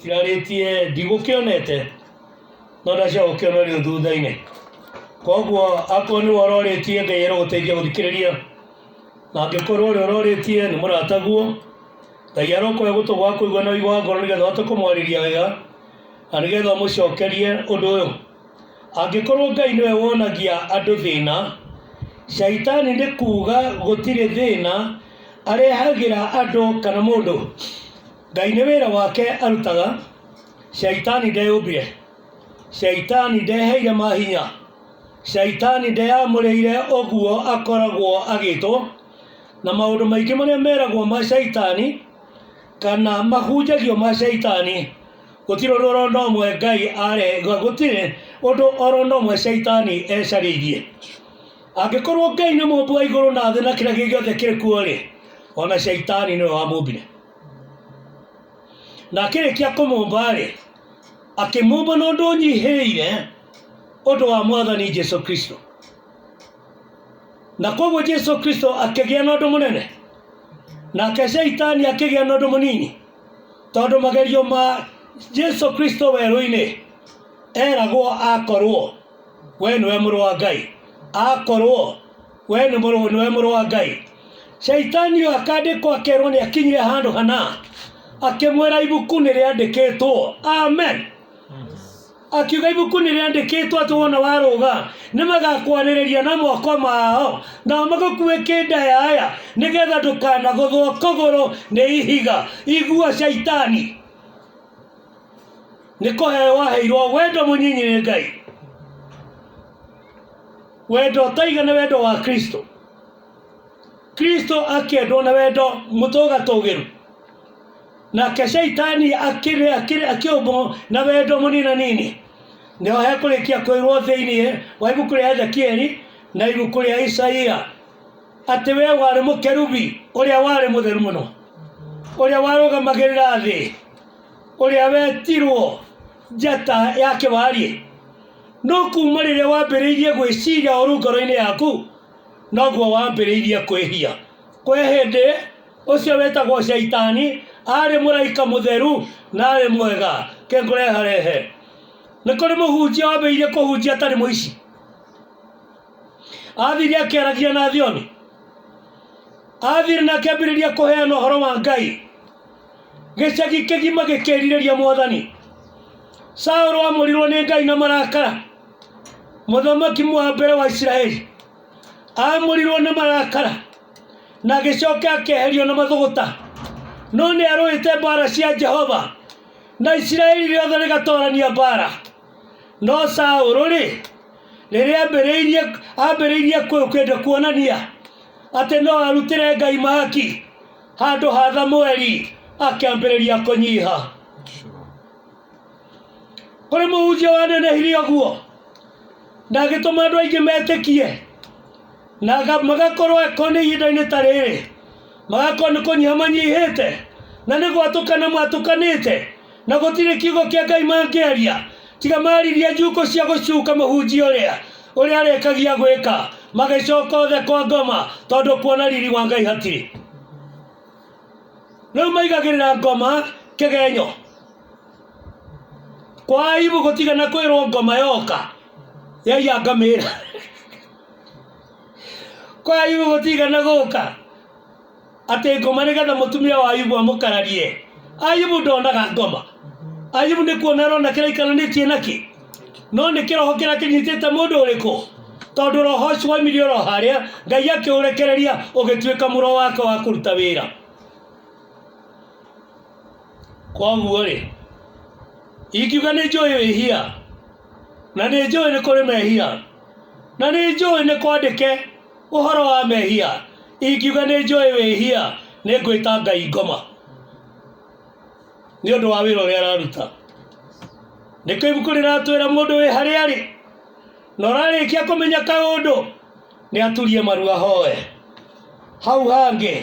cirarĩtie ndigũkĩonete no ndacia gũkĩona rĩu thutha-inĩ koguo akorwo nĩwe ũrorĩtie ngai arogũteithia gũthikĩrĩria na angĩkorwo ũrĩa ũrorĩtie nĩ mũrataguo ngai arokoya gũtũ gwa kũigua na ũigua wa ngoro nĩgetha ũhote kũmwarĩria wega na nĩgetha ũmũcokerie ũndũ ũyũ angĩkorwo ngai nĩwe wonagia andũ thĩna caitani nĩ kuuga gũtirĩ thĩna arehagĩra andũ kana mũndũ Ngai nĩ wĩra wake arutaga, Shaitani ndeyũmbire, Shaitani ndeheire mahinya, Shaitani ndeyamũrĩire ũguo akoragwo agĩtwo, na maũndũ maingĩ marĩa meragwo ma Shaitani kana mahunjagio ma Shaitani gũtirĩ ũndũ oro na ũmwe Ngai are gũtirĩ ũndũ oro na ũmwe Shaitani ecarĩirie. Angĩkorwo Ngai nĩ mũmbi wa igũrũ na thĩ na kĩrĩa gĩothe kĩrĩ kuo rĩ, ona Shaitani nĩwe wamũmbire. na akĩrĩkia kũmũmba-rĩ akĩmũmba na ũndũ ũnyihĩrĩire ũndũ wa mwathani jesu kristo na koguo jesu kristo akĩgĩa na ũndũ mũnene nake shaitani akĩgĩa na ũndũ mũnini tondũ magerio ma jesu kristo werũ-inĩ eragwo akorwo we nĩwe mũrũ wa ngai akorwo we nĩ mũrũ nĩwe mũrũ wa ngai shaitani ũyũ akandĩkwo akerwo nĩ akinyire handũ hana akĩmwĩra ibuku nĩ rĩandĩkĩtwo amen akiuga ibuku nĩ rĩandĩkĩtwo atĩ wona warũga nĩ magakwarĩrĩria na moko mao nao magũkuĩ kĩndayaya nĩgetha ndũkanagũthwo kũgũrũ nĩ ihiga igua shaitani nĩ kũheo waheirwo wendo mũnyinyi nĩ ngai wendo ũtaiga nĩ wendo wa kristo kristo akĩendwo nĩ wendo mũtũgatũgĩru nake shaitani akĩrĩ akĩrĩ akĩũmbwo na wendo mũnina nini nĩho hekũrĩkia kwĩrwo thĩinĩ wa ibuku rĩa ezekieli na ibuku rĩa isaia atĩ we warĩ mũkerubi ũrĩa warĩ mũtheru mũno ũrĩa warũgamagĩrĩra thĩ ũrĩa wetirwo njata yake wariĩ no kuma rĩrĩa wambĩrĩirie gwĩciria ũru ngoro-inĩ yaku noguo wambĩrĩirie kwĩhia kwĩ hĩndĩ ũcio wĩtagwo shaitani arĩ mũraika mũtheru na arĩ mwega kĩngũreharehe nĩ kũrĩ mũhunjia wambĩrĩirie kũhunjia atarĩ mũici athire akĩaragia na thioni athire na akĩambĩrĩria kũheana ũhoro wa ngai Gĩcagi kĩgima gĩkĩrirĩria mwathani. Saũlũ amũrirwo nĩ Ngai na marakara. Mũthamaki wa mbere wa Isiraeli amũrirwo na marakara na agĩcoka akeherio na mathũgũta. No nĩ arũĩte mbara cia Jehova na Isiraeli rĩothe rĩgatorania mbara. No Saũlũ rĩ, rĩrĩa ambĩrĩirie ambĩrĩirie kwenda kuonania atĩ no arutĩre Ngai mahaki handũ ha thamweri akĩambĩrĩria kũnyiha kũrĩ mũhunjia wanenehire ũguo na agĩtũma andũ aingĩ metĩkie na aga- magakorwo ko nĩ ihinda-inĩ ta rĩrĩ magakorwo nĩ kũnyiha manyihĩte na nĩ gwatũkana mwatũkanĩte na gũtirĩ kiugo kĩa ngai mangĩaria tiga maririe njukũ cia gũcuka mũhunjia ũrĩa ũrĩa arĩkagia gwĩka magĩcoka othe kwa ngoma tondũ kuona riri wa ngai hatirĩ rĩu maigagĩrĩra ngoma kĩgenyo kwa aibu gũtigana kwĩrwo ngoma yoka yaiya ngamĩra kwa aibu gũtigana gũka atĩ ngoma nĩgetha mũtumia wa ayubu amũkararie ayubu ndonaga ngoma ayubu nĩ kuona arona kĩrĩa ikaranĩtie nakĩ no nĩ kĩroho kĩrĩa kĩnyitĩte mũndũ ũrĩkũ tondũ roho ũcio waimirie oro harĩa ngai akĩũrekereria ũgĩtuĩka mũro wake wa kũruta wĩra koguo rĩ ingiuga nĩ njũĩ wĩhia na nĩ njũĩ nĩ kũrĩ mehia na nĩ njũĩ nĩ kwandĩke ũhoro wa mehia ingiuga nĩ njũĩ wĩhia nĩ ngwĩta ngai ngoma nĩ ũndũ wa wĩra ũrĩa araruta nĩkĩo ibuku rĩratwĩra mũndũ wĩ harĩa arĩ na ũrarĩkia kũmenya kaũndũ nĩ aturie maru ahoe hau hangĩ